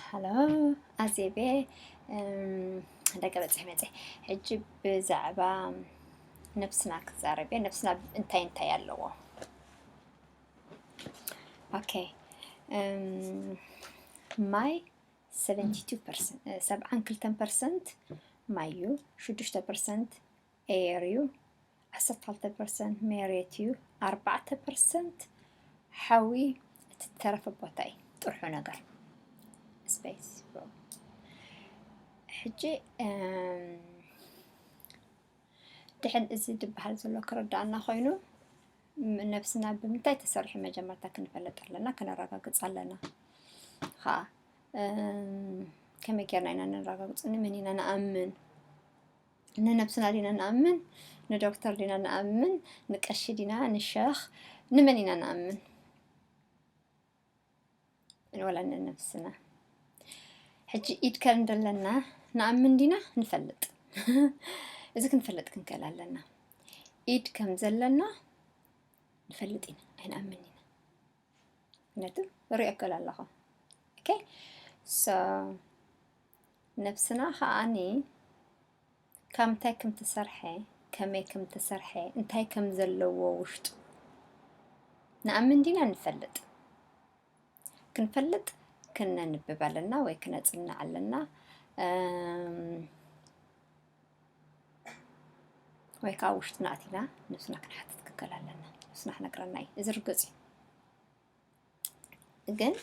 ሃሎ ኣዜቤ ደቂ በፅሒ መፀ ሕጂ ብዛዕባ ነብስና ክዛረብ እየ ነብስና እንታይ እንታይ ኣለዎ ኦኬ ማይ ሰብዓን ክልተን ፐርሰንት ማይ እዩ ሽዱሽተ ፐርሰንት ኤየር እዩ፣ ዓሰርተ ክልተ ፐርሰንት ሜሬት እዩ፣ ኣርባዕተ ፐርሰንት ሓዊ እቲ ዝተረፈ ቦታ እዩ ጥርሑ ነገር ስፔስ ሕጂ ድሕን እዚ ዝበሃል ዘሎ ክርዳእና ኮይኑ ነብስና ብምንታይ ተሰርሑ መጀመርታ ክንፈለጥ ኣለና ክነረጋግፅ ኣለና ከዓ ከመይ ጌርና ኢና ነረጋግፅ ንመን ኢና ንኣምን ንነብስና ዲና ንኣምን ንዶክተር ዲና ንኣምን ንቀሺ ዲና ንሸኽ ንመን ኢና ንኣምን ወላ ንነብስና ሕጂ ኢድ ከር እንደለና ንኣምን ዲና ንፈልጥ እዚ ክንፈልጥ ክንክእል ኣለና ኢድ ከም ዘለና ንፈልጥ ኢና ኣይንኣምን ኢና ነጥብ ርእከል ኣለኻ ኦኬ ሶ ነብስና ከዓኒ ካብ እንታይ ከም ተሰርሐ ከመይ ከም ተሰርሐ እንታይ ከም ዘለዎ ውሽጡ ንኣምን ዲና ንፈልጥ ክንፈልጥ ክነንብብ ኣለና ወይ ክነጽንዕ ኣለና ወይ ከዓ ውሽጥና ኣቲና ነብስና ክንሓትት ክንከል ኣለና ነብስና ክነግረና እዩ እዚ ርግፅ እዩ ግን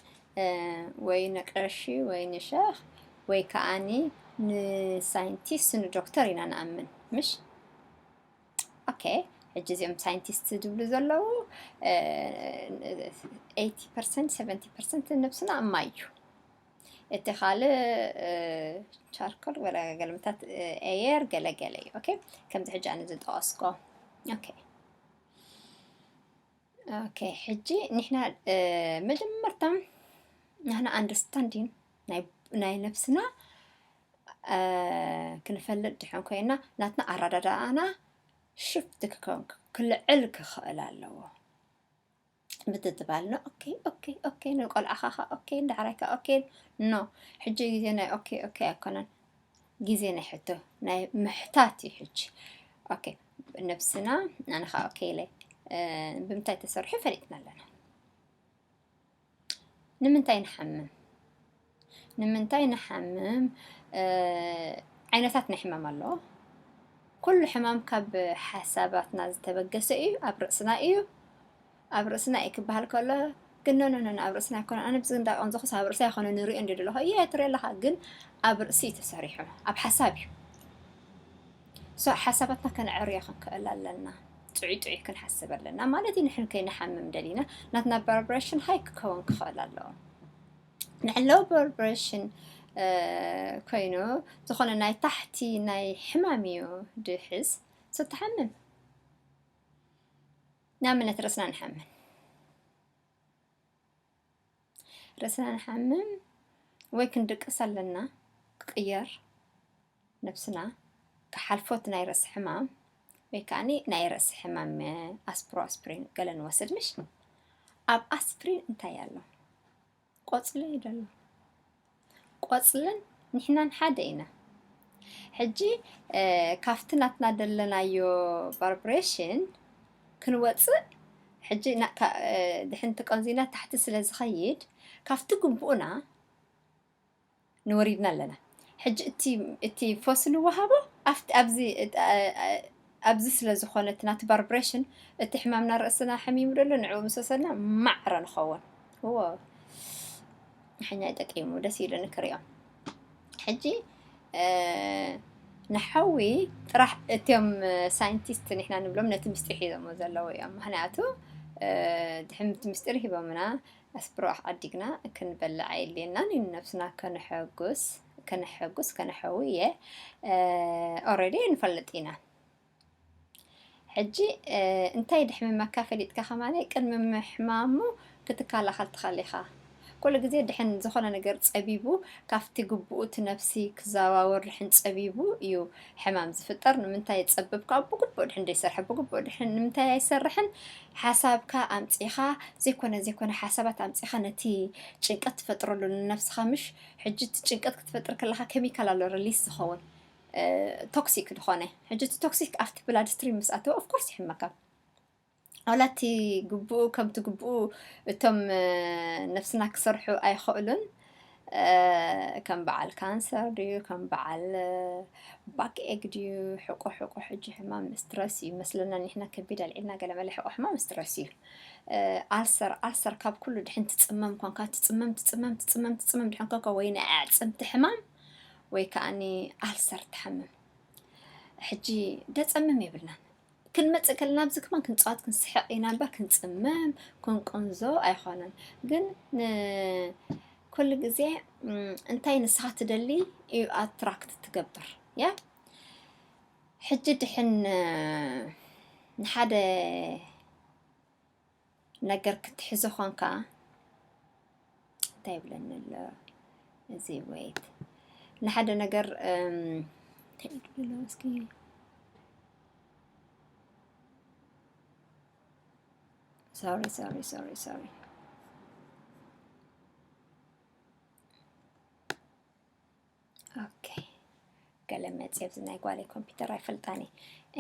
ወይ ንቀሺ ወይ ንሸኽ ወይ ከዓኒ ንሳይንቲስት ንዶክተር ኢና ንኣምን ምሽ ኦኬ ሕጂ እዚኦም ሳይንቲስት ዝብሉ ዘለዉ ኤቲ ፐርሰንት ሰቨንቲ ፐርሰንት ነብስና እማ እዩ እቲ ካልእ ቻርኮል ወላ ገልምታት ኤየር ገለገለ እዩ ኦኬ ከምዚ ሕጂ ኣነ ዝጠቀስኮ ኦኬ ኦኬ ሕጂ ንሕና መጀመርታ ንሕና ኣንደርስታንዲን ናይ ነብስና ክንፈልጥ ድሕን ኮይና ናትና ኣረዳድኣና ሽፍት ክከውን ክልዕል ክኽእል ኣለዎ ምትትባል ን ኦኬ ኦኬ ኦኬ ን ቆልዓኻ ከ ኦኬ ዳሕራይ ከ ኦኬ ኖ ሕጂ ግዜ ናይ ኦኬ ኦኬ ኣይኮነን ግዜ ናይ ሕቶ ናይ ምሕታት እዩ ሕጂ ኦኬ ነብስና ኣነ ከ ኦኬ ኢለ ብምንታይ ተሰርሑ ፈሊጥና ኣለና ንምንታይ ንሓምም ንምንታይ ንሓምም ዓይነታት ናይ ሕማም ኣሎ ኩሉ ሕማም ካብ ሓሳባትና ዝተበገሰ እዩ ኣብ ርእስና እዩ ኣብ ርእስና እዩ ክበሃል ከሎ ግን ነነነ ኣብ ርእስና ይኮነ ኣነ ብዚ እንዳቀን ዘኹስ ኣብ ርእሳ ይኮነ ንሪኦ እንዲ ደለኹ እየ ትሪኦ ኣለኻ ግን ኣብ ርእሲ እዩ ተሰሪሑ ኣብ ሓሳብ እዩ ሶ ሓሳባትና ከነዕርዮ ክንክእል ኣለና ጥዑይ ጥዑይ ክንሓስብ ኣለና ማለት እዩ ንሕን ከይንሓምም ደሊና ናትና ቫይብሬሽን ሃይ ክኸውን ክኽእል ኣለዎ ናይ ሎው ብሎድ ፕረሽን ኮይኑ ዝኾነ ናይ ታሕቲ ናይ ሕማም እዩ ድሕዝ ሶተሓምም ናምነት ርእስና ንሓምን ርእስና ንሓምም ወይ ክንድቅስ ኣለና ክቅየር ነብስና ክሓልፎት ናይ ርእሲ ሕማም ወይ ከኣኒ ናይ ርእሲ ሕማም ኣስፕሮ ኣስፕሪን ገለ ንወስድ ምሽ ኣብ ኣስፕሪን እንታይ ኣሎ ቆጽሊ እዩ ደሎ ቆጽልን ንሕናን ሓደ ኢና ሕጂ ካብቲ ናትና ደለናዮ ቫርብሬሽን ክንወፅእ ሕጂ ድሕንቲ ቀንዚና ታሕቲ ስለ ዝኸይድ ካብቲ ግቡእና ንወሪድና ኣለና ሕጂ እቲ እቲ ፎስ ንወሃቦ ኣፍቲ ኣብዚ ኣብዚ ስለ ዝኾነ እቲ ናቲ ባርብሬሽን እቲ ሕማምና ርእስና ሐሚሙ ደሎ ንዕኡ ምስ ወሰድና ማዕረ ንኸውን እዎ ንሐኛ ይጠቂሙ ደስ ኢሉኒ ክሪኦ ሕጂ ንሐዊ ጥራሕ እትም ሳይንቲስት ንሕና ንብሎም ነቲ ምስጢር ሒዞሞ ዘለዉ እዮም ምክንያቱ ድሕምቲ ምስጢር ሂቦምና ኣስብርባሕ ዓዲግና ክንበልዕ ኣየድልየናን እዩ ንነብስና ከነሐጉስ ከነሐጉስ ከነሐዊ እየ ኦረዲ ንፈልጥ ኢና ሕጂ እንታይ ድሕምመካ ፈሊጥካ ከማለይ ቅድሚ ምሕማሙ ክትከላኸል ትኸእል ኢኻ ኩሉ ግዜ ድሕን ዝኾነ ነገር ጸቢቡ ካብቲ ግቡኡ እቲ ነፍሲ ክዘዋወር ድሕን ጸቢቡ እዩ ሕማም ዝፍጠር ንምንታይ ዝጸብብካ ብግቡእ ድሕን ዘይሰርሐ ብግቡእ ድሕን ንምንታይ ኣይሰርሕን ሓሳብካ ኣምጺኻ ዘይኮነ ዘይኮነ ሓሳባት ኣምጺኻ ነቲ ጭንቀት ትፈጥረሉ ንነፍስኻ ምሽ ሕጂ እቲ ጭንቀት ክትፈጥር ከለኻ ኬሚካል ኣሎ ሪሊስ ዝኸውን ቶክሲክ ዝኾነ ሕጂ እቲ ቶክሲክ ኣብቲ ብላድ ስትሪም ምስ ኣተወ ኦፍኮርስ ይሕመካ ዋላ እቲ ግቡኡ ከምቲ ግቡኡ እቶም ነፍስና ክሰርሑ ኣይኸእሉን ከም በዓል ካንሰር ድዩ ከም በዓል ባክ ኤግ ድዩ ሕቆ ሕቆ ሕጂ ሕማም ስትረስ እዩ መስለና ኒሕና ከቢድ ኣልዒልና ገለመለ ሕቆ ሕማም ስትረስ እዩ ኣልሰር ኣልሰር ካብ ኩሉ ድሕን ትጽመም ኳንካ ትጽመም ትጽመም ትጽመም ትጽመም ድሕን ኮንካ ወይ ናይ ኣዕጽምቲ ሕማም ወይ ከዓኒ ኣልሰር ትሓምም ሕጂ ደጸምም የብልናን ክንመጽእ ከለና ኣብዚ ከማን ክንጻወት ክንስሕቕ ኢና እምበር ክንጽመም ክንቁንዞ ኣይኮነን ግን ን ኩሉ ግዜ እም፣ እንታይ ንስኻ ትደሊ እዩ ኣትራክት ትገብር ያ ሕጂ ድሕን እ፣ ንሓደ ነገር ክትሕዞ ኾንካ እንታይ ይብለኒ ኣሎ እዚ ወይት ንሓደ ነገር እስኪ ሶሪ ሶሪ ሶሪ ሶሪ ኦኬ ገለ መፅእ ኣብዚ ናይ ጓለይ ኮምፒውተር ኣይፈልጣን እየ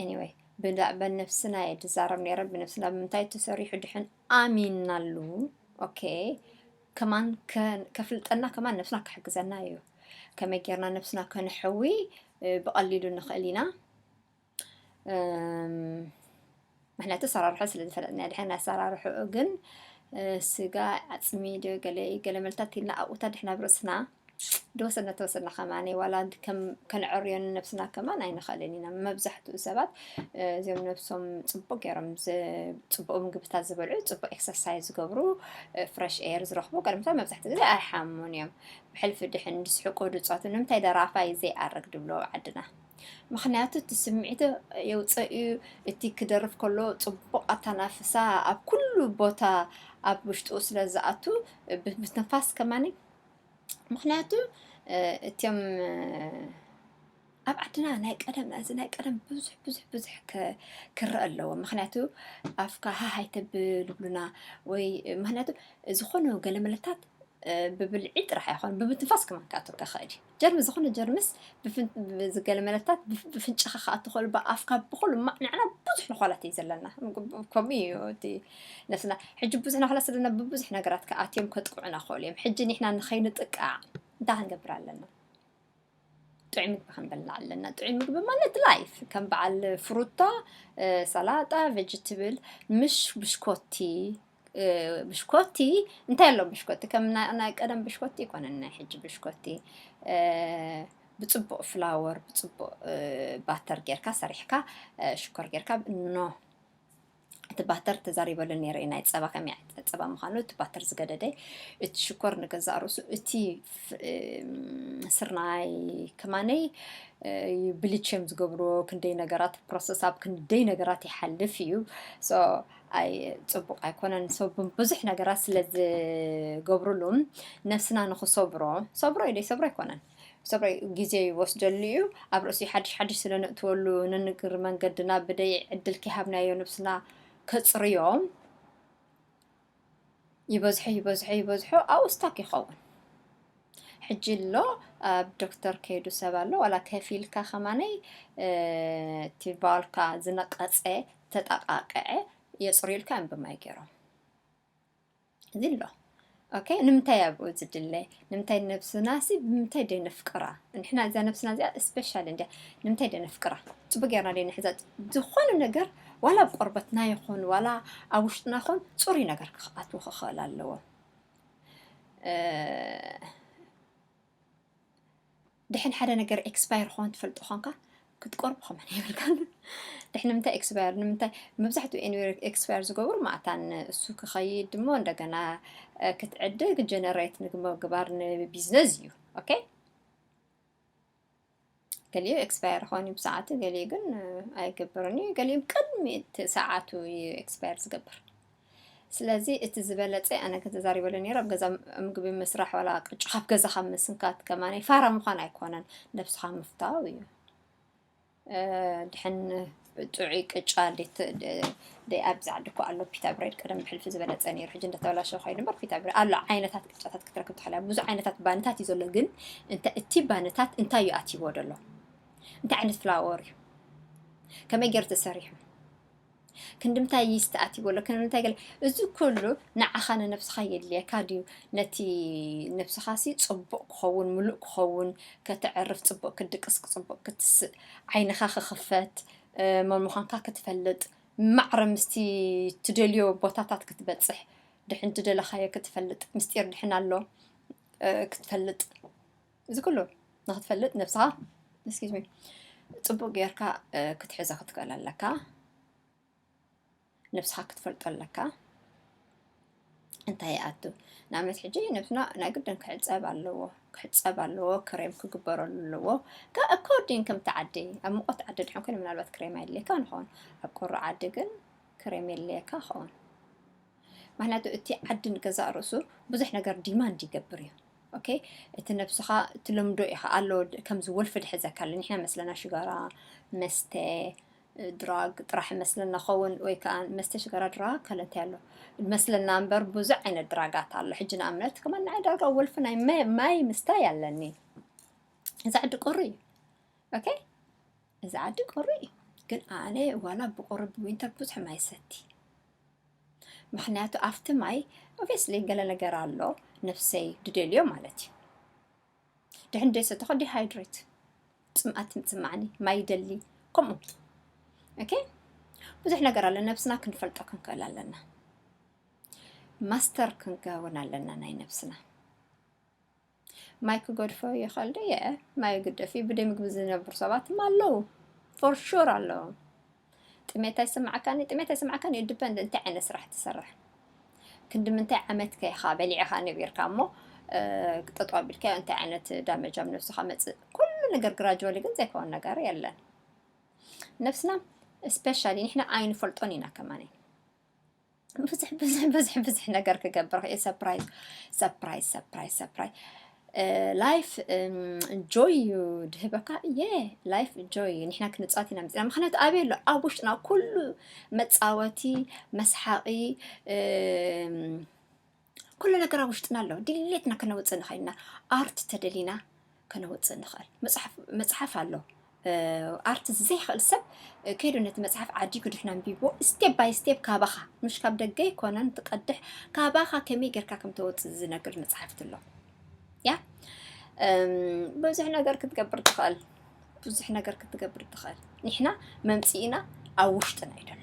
ኤኒወይ ብዛዕባ ነፍስና እየ ዝዛረብ ነይረ ብነፍስና ብምንታይ ተሰሪሑ ድሕን ኣሚናሉ ኦኬ ከማን ከ- ከፍልጠና ከማን ነፍስና ክሕግዘና እዩ ከመይ ጌርና ነፍስና ከነሕዊ እ፣ ብቐሊሉ ንኽእል ኢና ምክንያቱ ኣሰራርሑ ስለ ዝፈለጥና ድሕና ኣሰራርሕኡ ግን ስጋ ዓፅሚ ዶ ገለ ገለ መልታት ኢልና ኣብኡታ ድሕና ኣብ ርእስና ደወሰና ተወሰና ከማኒ ዋላ ከም ከነዕርዮ ንነብስና ከማን ኣይንኽእልን ኢና መብዛሕትኡ ሰባት እዚኦም ነብሶም ፅቡቅ ገይሮም ፅቡቅ ምግብታት ዝበልዑ ፅቡቅ ኤክሰርሳይዝ ዝገብሩ ፍረሽ ኤር ዝረኽቡ ቀድምታ መብዛሕትኡ ግዜ ኣይሓሙን እዮም ብሕልፊ ድሕን ዝስሕቁ ድፃቱ ንምንታይ ደራፋይ ዘይኣርግ ድብሎ ዓድና ምኽንያቱ እቲ ስምዒት የውፀእ እዩ እቲ ክደርፍ ከሎ ፅቡቕ ኣታናፍሳ ኣብ ኩሉ ቦታ ኣብ ውሽጡ ስለ ዝኣቱ ብትንፋስ ከማኒ ምኽንያቱ እትም ኣብ ዓድና ናይ ቀደም እዚ ናይ ቀደም ብዙሕ ብዙሕ ብዙሕ ክረአ ኣለዎ ምክንያቱ ኣፍካ ሃሃይ ተብል ይብሉና ወይ ምክንያቱ ዝኾነ ገለ መለታት ብብልዒ ጥራሕ ኣይኮን ብምትንፋስ ክመካትካ ኸእል ጀርሚ ዝኾነ ጀርምስ ብዝገለ መለታት ብፍንጫኻ ክኣቱ ክእል ብኣፍካ ብኹሉ እማ ንዕና ብዙሕ ነዃላት እዩ ዘለና ከምኡ እዩ እቲ ነፍስና ሕጂ ብዙሕ ነዃላት ስለና ብብዙሕ ነገራት ክኣትዮም ከጥቅዑና ክእሉ እዮም ሕጂ ንሕና ንኸይንጥቃዕ እንታይ ክንገብር ኣለና ጥዑይ ምግቢ ክንበልዕ ኣለና ጥዑይ ምግቢ ማለት ላይፍ ከም በዓል ፍሩታ ሰላጣ ቬጅትብል ምሽ ብሽኮቲ ብሽኮቲ እንታይ ኣሎ ብሽኮቲ ከም ናይ ቀደም ብሽኮቲ ይኮነን ናይ ሕጂ ብሽኮቲ ብፅቡቅ ፍላወር ብፅቡቅ ባተር ጌርካ ሰሪሕካ ሽኮር ጌርካ ኖ እቲ ባተር ተዛሪበሉ ነይረ ናይ ፀባ ከመይ ዓይነት ፀባ ምዃኑ እቲ ባተር ዝገደደ እቲ ሽኮር ንገዛእ ርእሱ እቲ ስርናይ ከማነይ ብልቼም ዝገብርዎ ክንደይ ነገራት ፕሮሰስ ኣብ ክንደይ ነገራት ይሓልፍ እዩ ኣይ ጽቡቅ ኣይኮነን ሰብ ብዙሕ ነገራት ስለ ዝገብርሉ ነብስና ንክሰብሮ ሰብሮ ኢለይ ሰብሮ ኣይኮነን ሰብሮ ግዜ ይወስደሉ እዩ ኣብ ርእሲ ሓድሽ ሓድሽ ስለ ነእትወሉ ንንግር መንገድና ብደይ ዕድል ከይሃብናዮ ነብስና ከጽርዮ ይበዝሖ ይበዝሖ ይበዝሖ ኣብኡ ስታክ ይኸውን ሕጂ ኣሎ ኣብ ዶክተር ከይዱ ሰብ ኣሎ ዋላ ከፊልካ ከማነይ እቲ ቫልካ ዝነቀፀ ተጠቃቅዐ የፅርዩልካ እዮም ብማይ ገይሮም እዚ ኣሎ ኦኬ ንምንታይ ኣብኡ ዝድለ ንምታይ ነብስናሲ ብምንታይ ድየ ነፍቅራ ንሕና እዛ ነብስና እዚኣ እስፔሻል እንድያ ንምንታይ ድየ ነፍቅራ ጽቡቅ ጌርና ድየ ንሕዛ ዝኾነ ነገር ዋላ ኣብ ቆርበትና ይኹን ዋላ ኣብ ውሽጥና ይኹን ጽሩይ ነገር ክኣትዎ ክኽእል ኣለዎ ድሕን ሓደ ነገር ኤክስፓየር ኾን ትፈልጦ ኾንካ ክትቆርብ ኸመን የብልካን ድሕን ንምንታይ ኤክስፓየር ንምንታይ መብዛሕትኡ ኤኒዌር ኤክስፓየር ዝገብሩ ማእታን እሱ ክኸይድ ድሞ እንደገና ክትዕድግ ጀነሬት ምግባር ንቢዝነስ እዩ ኦኬ ገሊኡ ኤክስፓየር ኾን እዩ ብሰዓቱ ገሊኡ ግን ኣይገብርን እዩ ገሊኡ ቅድሚ እቲ ሰዓቱ እዩ ኤክስፓየር ዝገብር ስለዚ እቲ ዝበለጸ ኣነ ከተዛሪበሉ ነይሩ ኣብ ገዛ ምግቢ ምስራሕ ዋላ ቅጫ ካብ ገዛ ካብ ምስንካት ከማነ ፋራ ምዃን ኣይኮነን ነብስኻ ምፍታው እዩ ድሕን ጥዑይ ቅጫ ደይ ኣብዚ ዓዲ እኮ ኣሎ ፒታ ብሬድ ቀደም ብሕልፊ ዝበለፀ ነይሩ ሕጂ እንዳተበላሸ ኮይኑ እምበር ፒታ ብሬድ ኣሎ ዓይነታት ቅጫታት ክትረክብ ትኽእል እያ ብዙ ዓይነታት ባነታት እዩ ዘሎ ግን እቲ ባነታት እንታይ እዩ ኣትይዎ ደሎ እንታይ ዓይነት ፍላወር እዩ ከመይ ገይሩ ተሰሪሑ ክንድምታይ ይስቲ ኣትይዎ ኣሎ ክንድምታይ ገለ እዚ ኩሉ ንዓኻ ንነብስኻ የድልየካ ድዩ ነቲ ነብስኻሲ ጽቡቕ ክኸውን ምሉእ ክኸውን ከተዕርፍ ጽቡቕ ክትድቅስ ጽቡቕ ክትስእ ዓይንኻ ክኽፈት መን ምዃንካ ክትፈልጥ ማዕረ ምስቲ ትደልዮ ቦታታት ክትበጽሕ ድሕን ትደለኻዮ ክትፈልጥ ምስጢር ድሕን ኣሎ ክትፈልጥ እዚ ኩሉ ንክትፈልጥ ነብስኻ እስኪ ዝሚ ጽቡቅ ጌርካ ክትሕዛ ክትክእል ኣለካ ነብስኻ ክትፈልጦ ኣለካ እንታይ ይኣቱ ንኣብነት ሕጂ ነብስና ናይ ግድን ክሕፀብ ኣለዎ ክሕፀብ ኣለዎ ክሬም ክግበረሉ ኣለዎ ካብ ኣኮርዲን ከምቲ ዓዲ ኣብ ሙቐት ዓዲ ድሕን ኮይኑ ምናልባት ክሬም ኣየድልየካ ንኸውን ኣብ ቁሩ ዓዲ ግን ክሬም የድልየካ ኸውን ምክንያቱ እቲ ዓዲ ንገዛእ ርእሱ ብዙሕ ነገር ዲማንድ ይገብር እዩ ኦኬ እቲ ነብስኻ ትለምዶ ኢኻ ኣሎ ከምዚ ወልፊ ድሕዘካ ኣሎ ንሕና መስለና ሽጋራ መስተ ድራግ ጥራሕ መስለና ኸውን ወይ ከዓ መስተ ሽጋራ ድራግ ካለ እንታይ ኣሎ መስለና እምበር ብዙሕ ዓይነት ድራጋት ኣሎ ሕጂ ንኣብነት ከማ ንዓይ ዳርጋ ወልፊ ናይ ማይ ምስታይ ኣለኒ እዚ ዓዲ ቁሪ እዩ ኦኬ እዚ ዓዲ ቁሪ እዩ ግን ኣነ ዋላ ብቁሪ ብዊንተር ቡዙሕ ማይ ሰቲ ምክንያቱ ኣፍቲ ማይ ኦቨስሊ ገለ ነገር ኣሎ ነፍሰይ ድደልዮ ማለት እዩ ድሕን ደይ ሰተኮ ዲሃይድሬት ፅምኣት ትምፅማዕኒ ማይ ደሊ ከምኡ ኦኬ ብዙሕ ነገር ኣሎ ነብስና ክንፈልጦ ክንክእል ኣለና ማስተር ክንከውን ኣለና ናይ ነብስና ማይ ክገድፎ ይኽእል ድየ? ማይ ግደፍ እዩ። ብደይ ምግቢ ዝነብሩ ሰባት ድማ ኣለዉ ፎር ሹር ኣለዉ። ጥሜት ኣይስምዓካን እዩ ጥሜት ኣይስምዓካን እዩ ዲፐንድ እንታይ ዓይነት ስራሕ ትሰርሕ ክንዲ ምንታይ ዓመት ከ ኢኻ በሊዕኻ ነቢርካ እሞ እ፣ ጠጠው ኣቢልካዮ እንታይ ዓይነት ዳመጅ ኣብ ነብስኻ መፅእ ኩሉ ነገር ግራጅዋሊ ግን ዘይከውን ነገር የለን ነብስና ስፔሻሊ ንሕና ኣይንፈልጦን ኢና ከማን ብዙሕ ብዙሕ ብዙሕ ብዙሕ ነገር ክገብር ክእል ሰፕራይዝ ሰፕራይዝ ሰፕራይዝ ሰፕራይዝ ላይፍ ጆይ እዩ ድህበካ እየ ላይፍ ጆይ እዩ ንሕና ክንፃወት ኢና መፅና ምክንያቱ ኣበይ ኣሎ ኣብ ውሽጥና ኩሉ መፃወቲ መስሓቂ ኩሉ ነገር ኣብ ውሽጥና ኣሎ ድሌትና ከነውፅእ ንኽእል ኢና ኣርት ተደሊና ከነውፅእ ንኽእል መፅሓፍ ኣሎ ኣርት ዘይኽእል ሰብ ከይዱ ነቲ መፅሓፍ ዓዲጉ ድሕና ኣንቢቦ ስቴፕ ባይ ስቴፕ ካባኻ ምሽ ካብ ደገ ኣይኮነን ትቀድሕ ካባኻ ከመይ ጌርካ ከም ተወፅእ ዝነግር መፅሓፍቲ ኣሎ ያ ብዙሕ ነገር ክትገብር ትኽእል ብዙሕ ነገር ክትገብር ትኽእል ንሕና መምፅኢና ኣብ ውሽጥና እዩ ደሎ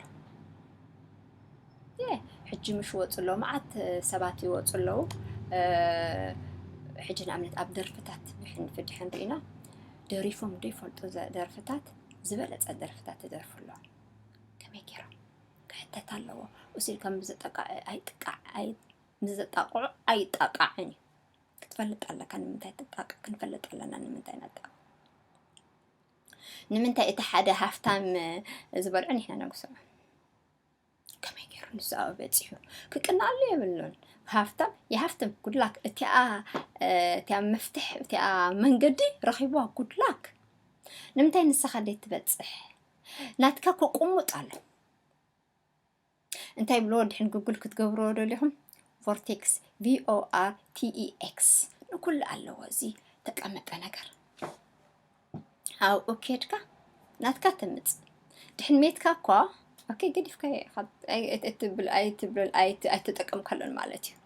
ሕጂ ምሽ ወፁ ኣሎ መዓት ሰባት ይወፁ ኣለዉ ሕጂ ንኣብነት ኣብ ደርፍታት ብሕንፊ ድሕን ርኢና ደሪፎም ዶ ይፈልጡ ደርፍታት ዝበለፀ ደርፍታት ይደርፉ ኣለዉ ከመይ ገይሮም ክሕተት ኣለዎ እሱ ከም ብዝጠቃዕ ኣይጥቃዕ ኣይ ንዘጣቕዑ ኣይጣቃዕን እዩ ክትፈልጥ ኣለካ ንምንታይ ትጣቅዕ ክንፈልጥ ኣለና ንምንታይ ነጣቅዕ ንምንታይ እቲ ሓደ ሃፍታም ዝበልዑ ንሕና ነጉስዖ ከመይ ገይሩ ንሱ ኣብኡ በጺሑ ክቅናሉ የብሉን ሃፍታም የሃፍትም ጉድላክ እቲኣ እቲኣ መፍትሕ እቲኣ መንገዲ ረኺቧ ጉድላክ ንምንታይ ንስኻ ደይ ትበጽሕ ናትካ ክቁሙጥ ኣሎ እንታይ ይብሎ ድሕን ጉግል ክትገብሮ ደሊኹም ቮርቴክስ ቪኦኣር ቲኢኤክስ ንኩሉ ኣለዎ እዚ ተቀመጠ ነገር ኣብኡ ኬድካ ናትካ ተምጽእ ድሕን ሜትካ እኳ ኦኬ ገዲፍካዮ ኢኻ ኣይ- ኣይ- ኣይትብል ኣይትብል ኣይት- ኣይተጠቀምካሉን ማለት እዩ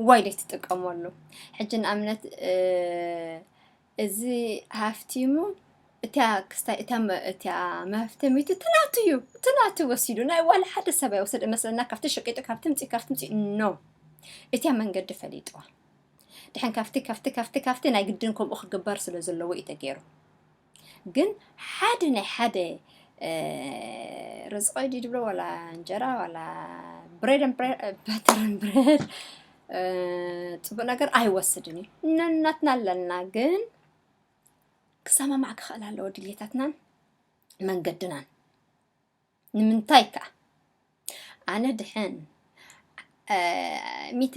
ዋይ ዘይትጥቀመሉ ሕጂ ንኣብነት እ፣ እዚ ሃፍቲሙ እታ ክስታይ እታ መ- እታ መፍተሚቱ እቲ ናቱ እዩ እቲ ናቱ ወሲዱ ናይ ዋላ ሓደ ሰብ ኣይወሰደ መስለና ካብቲ ሸቂጡ ካብቲ ምፂ ካብቲ ምፂ ኖ እታ መንገዲ ፈሊጥዋ ድሐን ካፍቲ ካፍቲ ካፍቲ ካፍቲ ናይ ግድን ከምኡ ክግበር ስለ ዘለዎ እዩ ተገይሩ ግን ሓደ ናይ ሓደ ርዝቆይ ድዩ ድብሎ ዋላ እንጀራ ዋላ ብሬድ በተርን ብሬድ ፅቡቅ ነገር ኣይወስድን እዩ ነናትና ኣለና ግን ክሰማማዕ ክኽእል ኣለዎ ድሌታትናን መንገድናን ንምንታይ ከኣ ኣነ ድሐን ሚእቲ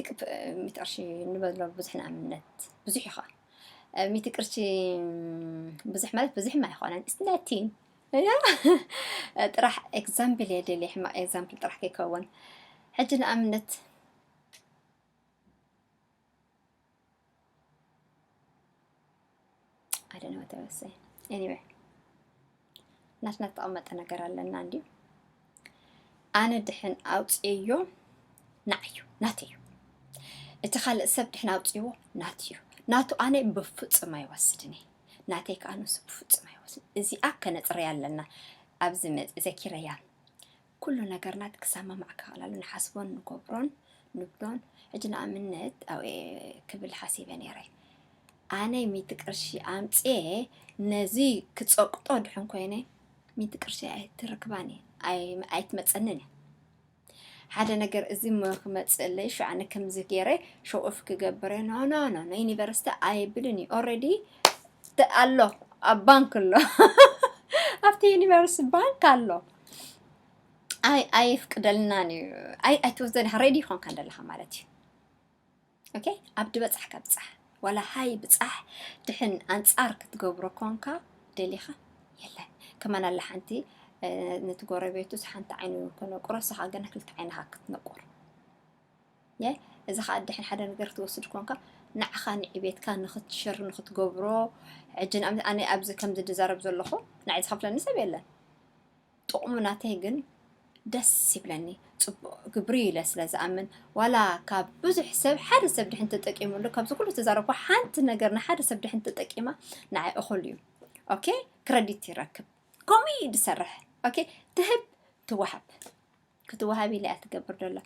ቅርሺ ንበሎ ብዙሕ ንኣምነት ብዙሕ እዩ ኸኣ ሚእቲ ቅርሺ ብዙሕ ማለት ብዙሕም ኣይኮነን እስነቲን ጥራሕ ኤግዛምፕል እየ ደልየ ሕማቕ ኤግዛምፕል ጥራሕ ከይከውን ሕጂ ንኣብነት I don't know what I was saying. Anyway, ናትና ተቐመጠ ነገር ኣለና እንዲዩ ኣነ ድሕን ኣውፅዮ ናዓዩ ናተዩ እቲ ካልእ ሰብ ድሕን ኣውፅዎ ናትዩ ናቱ ኣነ ብፍፁም ኣይወስድን እየ ናተይ ከዓ ንሱ ብፍፁም ኣይወስድን እዚኣ ከነፅረያ ኣለና ኣብዚ መፅ ዘኪረያ ኩሉ ነገርና ክሰማማዕ ከላሉ ንሓስቦን ንገብሮን ንብሎን ሕጂ ንኣብነት ኣብኤ ክብል ሓሲበ ነይረ ኣነ ሚእቲ ቅርሺ ኣምጽኤ ነዚ ክጸቅጦ ድሕን ኮይነ ሚእቲ ቅርሺ ኣይትርክባን እየ ኣይትመጸንን እየ ሓደ ነገር እዚ ክመፅእለይ ሸዓነ ከምዚ ገይረ ሸኦፍ ክገብረ ኖ ኖ ኖ ኖ ዩኒቨርሲቲ ኣይብልን እዩ ኦልሬዲ ኣሎ ኣብ ባንክ ኣሎ ኣብቲ ዩኒቨርሲቲ ባንክ ኣሎ ኣይ ኣየፍቅደልናን እዩ ኣይ ኣይትወስደን ሃረይ ድዩ ኮንካ ደለኻ ማለት እዩ ኦኬ ኣብ ድበጻሕካ ብጻሕ ዋላ ሃይ ብጻሕ ድሕን ኣንጻር ክትገብሮ ኮንካ ደሊኻ የለን ከማን ኣላ ሓንቲ ነቲ ጎረቤቱስ ሓንቲ ዓይኑ ከነቁሮ ስኻ ግን ክልተ ዓይንኻ ክትነቁር ን እዚ ከኣ ደሐን ሐደ ነገር ክትወስድ ኮንካ ንዓካ ንዕቤትካ ንክትሽር ንክትገብሮ ሕጂ ንኣብነት ኣነ ኣብዚ ከምዚ ድዛረብ ዘለኩ ንዓይ ዝከፍለኒ ሰብ የለን ጥቅሙ ናተይ ግን ደስ ይብለኒ ጽቡቅ ግብሪ እዩ ኢለ ስለ ዝኣምን ዋላ ካብ ብዙሕ ሰብ ሓደ ሰብ ድሕን ተጠቂሙሉ ካብዚ ኩሉ ተዛረብኩ ሓንቲ ነገር ንሓደ ሰብ ድሕን ተጠቂማ ንዓይ እኩል እዩ ኦኬ ክረዲት ይረክብ ከምኡ እዩ ዝሰርሕ ኦኬ ትህብ ትወሃብ ክትዋሃብ ኢላ እያ ትገብር ደላ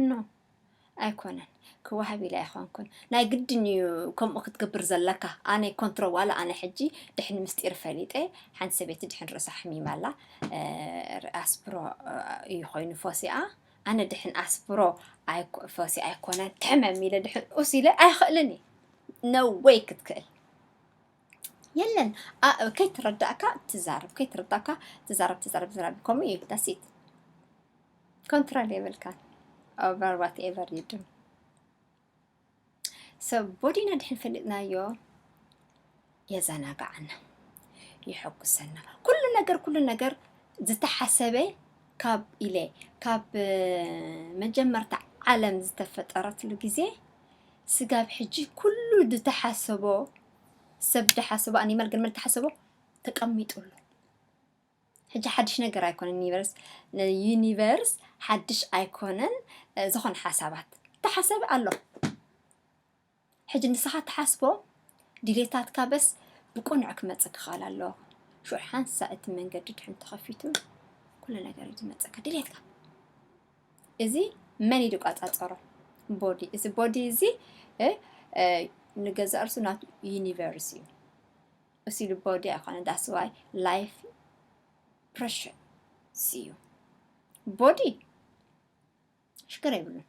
ን ኣይኮነን ክዋሃብ ኢላ ኣይኮንኩን ናይ ግድን እዩ ከምኡ ክትገብር ዘለካ ኣነ ኮንትሮ ዋላ ኣነ ሕጂ ድሕን ምስጢር ፈሊጠ ሓንቲ ሰበይቲ ድሕን ርእሳ ሕሚማ ኣላ ኣስፕሮ እዩ ኮይኑ ፎሲኣ ኣነ ድሕን ኣስፕሮ ፎሲ ኣይኮነን ትሕመም ኢለ ድሕን ኡስ ኢለ ኣይኽእልን እዩ ነወይ ክትክእል የለን ኣ- ከይተረዳእካ ትዛረብ ከይተረዳእካ ትዛረብ ትዛረብ ትዛረብ ከምኡ እዩ ዳሲት ኮንትሮል የብልካ ኦቨር ዋት ኤቨር ዩ ዱ ሰብ ቦዲና ድሕን ፈሊጥናዮ የዘናግዓና ይሐጉሰና ኩሉ ነገር ኩሉ ነገር ዝተሓሰበ ካብ ኢለ ካብ እ፣ መጀመርታ ዓለም ዝተፈጠረትሉ ግዜ ስጋብ ሕጂ ኩሉ ዝተሓሰቦ ሰብ ዳሓሰቦ ኣኒማል ግን መን ተሓሰቦ ተቀሚጡ ኣሎ ሕጂ ሓድሽ ነገር ኣይኮነን ዩኒቨርስ ዩኒቨርስ ሓድሽ ኣይኮነን እ፣ ዝኾነ ሓሳባት ተሓሰበ ኣሎ ሕጂ ንስኻ ተሓስቦ ድሌታትካ በስ ብቁኑዕ ክመጽእ ክኽእል ኣሎ ሽዑ ሓንሳእ እቲ መንገዲ ድሕን ተኸፊቱ ኩሉ ነገር እዩ ዝመጸካ ድሌትካ እዚ መን እዩ ዝቆፃፀሮ ቦዲ እዚ ቦዲ እዚ ንገዛእ ርእሱ ናቱ ዩኒቨርስ እዩ እሱ ኢሉ ቦዲ ኣይኮነ ዳስዋይ ላይፍ ፕሬሽር እዩ ቦዲ ሽግር የብሉን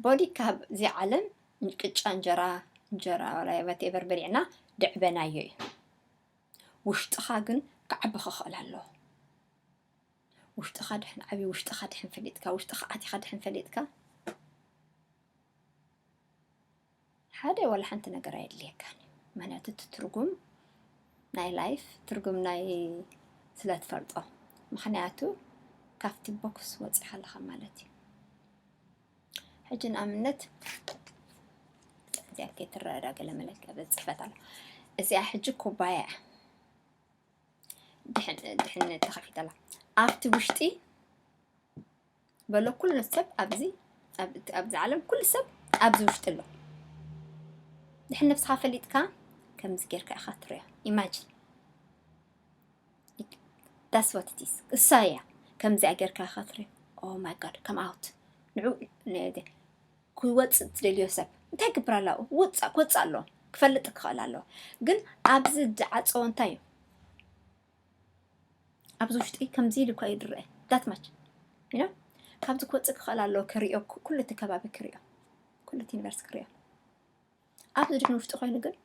ቦዲ ካብ እዚ ዓለም ቅጫ እንጀራ እንጀራ ላይ ወቴቨር በሊዕና ድዕበናዮ እዩ ውሽጥኻ ግን ክዓቢ ክኽእል ኣለዎ ውሽጥኻ ድሕን ዓብዩ ውሽጥኻ ድሕን ፈሊጥካ ውሽጥኻ ኣቲኻ ድሕን ፈሊጥካ ሓደ ዋላ ሓንቲ ነገር ኣየድልየካን እዩ ምክንያቱ እቲ ትርጉም ናይ ላይፍ ትርጉም ናይ ስለ ትፈልጦ ምክንያቱ ካብቲ ቦክስ ወፂኻ ኣለኻ ማለት እዩ ሕጂ ንኣብነት እዚኣ ከይትረዳ ገለ መለክ ፅሕፈት ኣሎ እዚኣ ሕጂ ኩባያ እያ ድሕን ተኸፊተላ ኣብቲ ውሽጢ በሎ ኩሉ ሰብ ኣብዚ ኣብዚ ዓለም ኩሉ ሰብ ኣብዚ ውሽጢ ኣሎ ድሕን ነብስኻ ፈሊጥካ ከምዚ ጌርካ ኢኻ ትሪኦ ኢማጂን ዳስ ዋት ኢት ኢዝ እሳ እያ ከምዚኣ ጌርካ ኢኻ ትሪኦ ኦ ማይ ጋድ ከም ኣውት ንዑ ክወጽእ ትደልዮ ሰብ እንታይ ይግብር ኣላ ውጻእ ክወጽእ ኣሎ ክፈልጥ ክኽእል ኣሎ ግን ኣብዚ ዝዓጸወ እንታይ እዩ ኣብዚ ውሽጢ ከምዚ ኢሉ እኳ እዩ ዝረአ ዳት ማች ኢኖ ካብዚ ክወጽእ ክኽእል ኣሎ ክሪኦ ኩሉ እቲ ከባቢ ክሪኦ ኩሉ እቲ ዩኒቨርሲቲ ክሪኦ ኣብቲ ድሕን ውሽጢ ኮይኑ ግን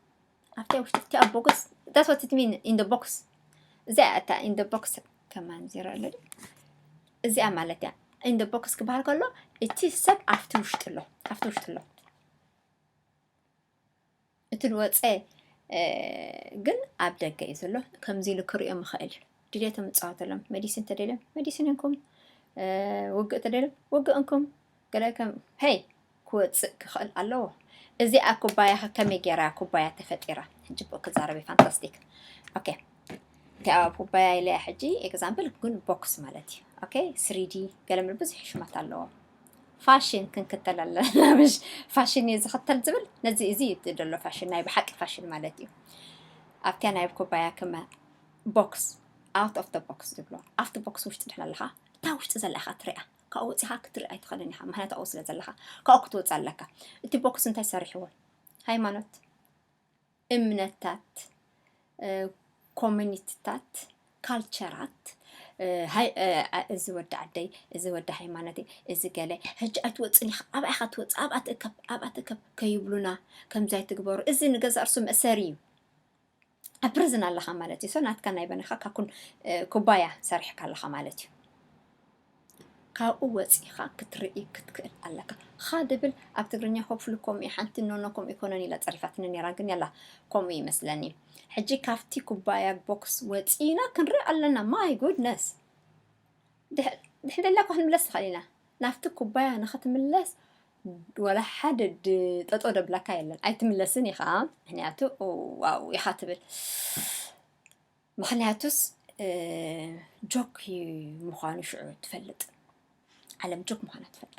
ኣብቲ ውሽጢ እቲ ኣብ ቦክስ ዳስ ዋት ኢት ሚን ኢን ደ ቦክስ እዚኣ እታ ኢን ደ ቦክስ ከማን ዜሮ ኣሎ እዚኣ ማለት እያ ኢን ደ ቦክስ ክበሃል ከሎ እቲ ሰብ ኣብቲ ውሽጢ ኣሎ ኣብቲ ውሽጢ ኣሎ እቲ ዝወፀ ግን ኣብ ደገ እዩ ዘሎ ከምዚ ኢሉ ክሪኦም ይኽእል እዩ ድሌቶም እፃወተሎም መዲሲን ተደልዮም መዲሲን እንኩም ውግእ ተደልዮም ውግእ እንኩም ገለ ከም ሄይ ክወጽእ ክኽእል ኣለዎ። እዚኣ ኩባያ ከ ከመይ ጌራ እያ ኩባያ ተፈጢራ? ሕጂ ብኡ ክዛረብ እዩ ፋንታስቲክ። ኦኬ እቲኣ ኩባያ ኢለያ ሕጂ ኤግዛምፕል ግን ቦክስ ማለት እዩ። ኦኬ ስሪዲ ገለ ምል ብዙሕ ሽማት ኣለዎ። ፋሽን ክንክተል ኣለና ምሽ ፋሽን እዩ ዝኽተል ዝብል ነዚ እዚ እዩ እቲ ዘሎ ፋሽን ናይ ብሓቂ ፋሽን ማለት እዩ። ኣብቲያ ናይ ኩባያ ክመ ቦክስ ኣውት ኦፍ ደ ቦክስ ዝብሎ ኣብቲ ቦክስ ውሽጢ ድሕን ኣለኻ እታ ውሽጢ ዘላ ኢኻ ትሪኣ ካብኡ ወጺኻ ክትርኢ ኣይትኽእልን ኢኻ ምክንያቱ ኣብኡ ስለ ዘለኻ ካብኡ ክትወጽእ ኣለካ እቲ ቦክስ እንታይ ሰሪሕዎ ሃይማኖት እምነታት ኮሚኒቲታት ካልቸራት እዚ ወዲ ዓደይ እዚ ወዲ ሃይማኖተይ እዚ ገለ ሕጂ ኣይትወፅን ኢኻ ኣብኣ ኢኻ ትወፅእ ኣብኣ ትእከብ ኣብኣ ትእከብ ከይብሉና ከምዚ ኣይትግበሩ እዚ ንገዛእ ርሱ መእሰሪ እዩ ኣብ ፕርዝን ኣለኻ ማለት እዩ። ሶ ናትካ ናይ በነኻ ካኩን ኩባያ ሰሪሕካ ኣለኻ ማለት እዩ። ካብኡ ወፂኻ ክትርኢ ክትክእል ኣለካ ኻ ድብል ኣብ ትግርኛ ሆፕፍሉ ከምኡ እዩ ሓንቲ ኖኖ ከምኡ ይኮነን ኢላ ፀሪፋትኒ ነራ ግን ያላ ከምኡ ይመስለኒ ሕጂ ካብቲ ኩባያ ቦክስ ወፂና ክንርኢ ኣለና ማይ ጉድነስ ድሕንደለካ ክንምለስ ንኽእል ኢና ናብቲ ኩባያ ንኽትምለስ ወላ ሓደ ጠጦ ደብላካ የለን ኣይትምለስን ኢኻ ምክንያቱ ዋው ኢኻ ትብል ምክንያቱስ ጆክ ምዃኑ ሽዑ ትፈልጥ ዓለም ጆክ ምዃና ትፈልጣ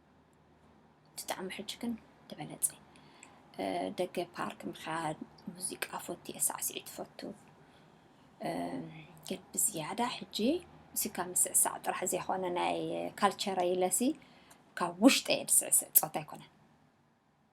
ብጣዕሚ ሕጂ ግን ተበለፀ ደገ ፓርክ ምኻድ ሙዚቃ ፎቲ ሳዕስዒት ፈቱ ግን ብዝያዳ ሕጂ እዚ ካብ ምስዕሳዕ ጥራሕ ዘይኮነ ናይ ካልቸረ ኢለሲ ካብ ውሽጠ እየ ዝስዕስዕ ፆታ ኣይኮነን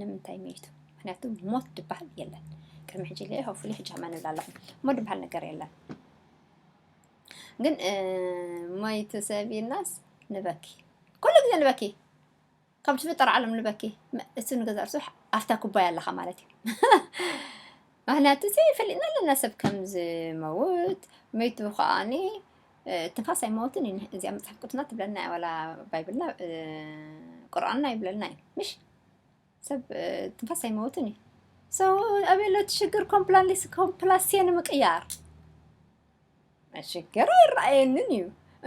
ንምንታይ መይቱ ምክንያቱ ሞት ድበሃል የለን ቅድሚ ሕጂ ለ ሆፍሊ ሕጂ ሃማ ንብል ኣለኹም ሞት ድበሃል ነገር የለን ግን መይቱ ሰብ ኢልናስ ንበኪ ኩሉ ግዜ ንበኪ ካብ ዝፍጠር ዓለም ንበኪ እሱ ንገዛ ርሱ ኣብታ ኩባያ ኣለኻ ማለት እዩ ምክንያቱ እዚ ፈሊጥና ኣለና ሰብ ከም ዝመውት መይቱ ከዓኒ ትንፋስ ኣይመወትን እዩ እዚኣ መፅሓፍ ቅዱስና ትብለና እያ ዋላ ባይብልና እ፣ ቁርኣንና ይብለልና እዩ ምሽ ሰብ እ፣ ትንፋስ ኣይመወትን እዩ ሰው ኣበሎ ትሽግር ኮምፕላንሊስ ኮምፕላሴ ንምቅያር ሽግር ኣይረኣየንን እዩ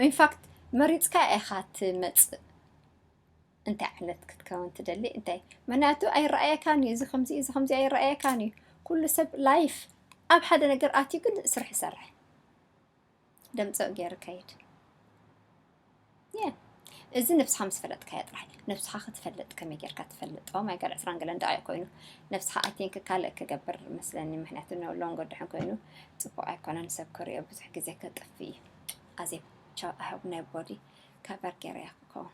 ኢንፋክት መሪፅካ ኢኻ ትመፅእ እንታይ ዓይነት ክትከውን ትደሊ እንታይ ምክንያቱ ኣይረኣየካን እዩ እዚ ከምዚ እዚ ከምዚ ኣይረኣየካን እዩ ኩሉ ሰብ ላይፍ ኣብ ሓደ ነገር ኣትዩ ግን ስራሕ ይሰርሕ ደምፅዕ ገይር ከይድ እዚ ነብስኻ ምስ ፈለጥካዮ ጥራሕ ነብስኻ ክትፈልጥ ከመይ ጌርካ ትፈልጥ ኦ ማይ ጋድ ዕስራን ገለን ደኣ እዩ ኮይኑ ነብስኻ ኣይ ቲንክ ካልእ ክገብር መስለኒ ምክንያቱ ሎንጎ ድሕን ኮይኑ ፅቡቅ ኣይኮነን ሰብ ክሪኦ ብዙሕ ግዜ ከጥፍ እዩ ኣዜ ቻው ኣይ ሆፕ ናይ ቦዲ ከቨር ገይረያ ክኸውን